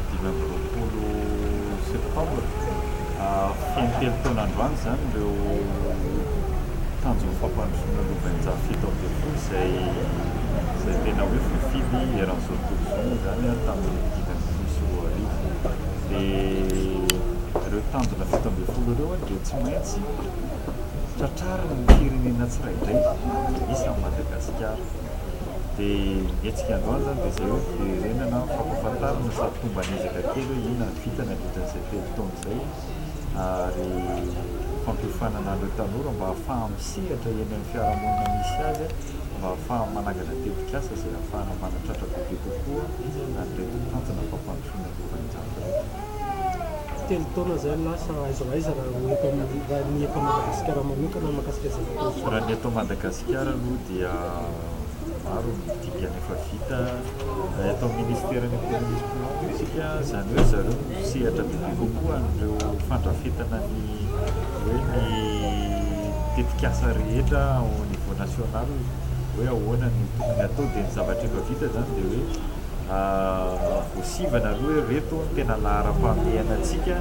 dimy amby roapolo septambra feno telo taona androany izany ireo tanjon'ny fampandrosoana Lobenja fito ambin'ny folo izay izay tena hoe voafidy eran'izao tontolo izao izany a tamin'ny dimy amby folo sy roa arivo dia ireo tanjona fito ambin'ny folo ireo a dia tsy maintsy tratrarin'ny firenena tsirairay isan'i Madagasikara. dia hetsika androany izany dia izay hoe fiverenana fampafantarana sady fomba an'ezaka kely hoe inona no vita nandritran'izay telo taona izay ary fampiofanana an'ireo tanora mba hahafahany misehatra eny amin'ny fiarahamonina misy azy mba hahafahany manangana tetikasa izay hahafahana manatratra bebe kokoa an'ireto tanjona fampandrosoana ny lovainjato ireto. Telo taona izay no lasa, aiza ho aiza raha ny eto Madagasikara manokana mikasika izay natao izay? Raha ny eto Madagasikara Madagasikara aloha dia maro ny dingana efa vita eto amin'ny Ministeran'ny Ekonomia sy Finantsy isika, izany hoe zareo no misehatra bebe kokoa an'ireo fandrafetana ny hoe ny tetikasa rehetra au niveau national hoe ahoana no tokony hatao dia ny zavatra efa vita izany dia hoe Voasivana aloha hoe ireto no tena laharam-pahamehana antsika.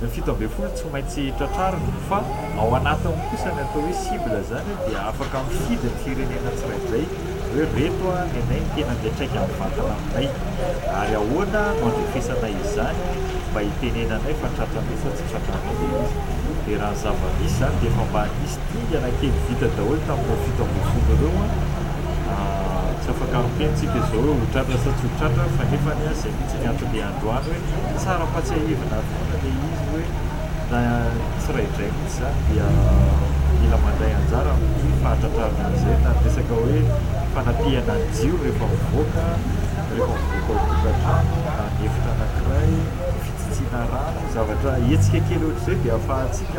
Ny fito ambin'ny folo tsy maintsy tratrarina fa ao anatiny kosa ny atao hoe cible izany dia afaka mifidy ny firenena tsirairay hoe ireto ny anay no tena miantraika mivantana aminay ary ahoana no andrefesana izany mba hitenenanay fa tratranay sa tsy tratranay ilay izy. Dia raha ny zava-misy izany dia efa mba nisy Dingana kely vita daholo tamin'ny ireo fito ambin'ny folo ireo an! Tsy afaka miteny tsika izao hoe ho tratra sa tsy ho tratra fa nefany an! Izay mihitsy ny anton'ilay androany hoe tsara ampatsiahivina ary foana ilay izy hoe na tsiraidraiy mihitsy izany dia mila mandray anjara amin'ny fahatratrarana an'izay na ny resaka hoe fanapihana ny jiro rehefa mivoaka rehefa mivoaka ao an-tokantrano na ny efitra anankiray, fitsitsiana rano, zavatra hetsika kely ohatr'izay dia afahantsika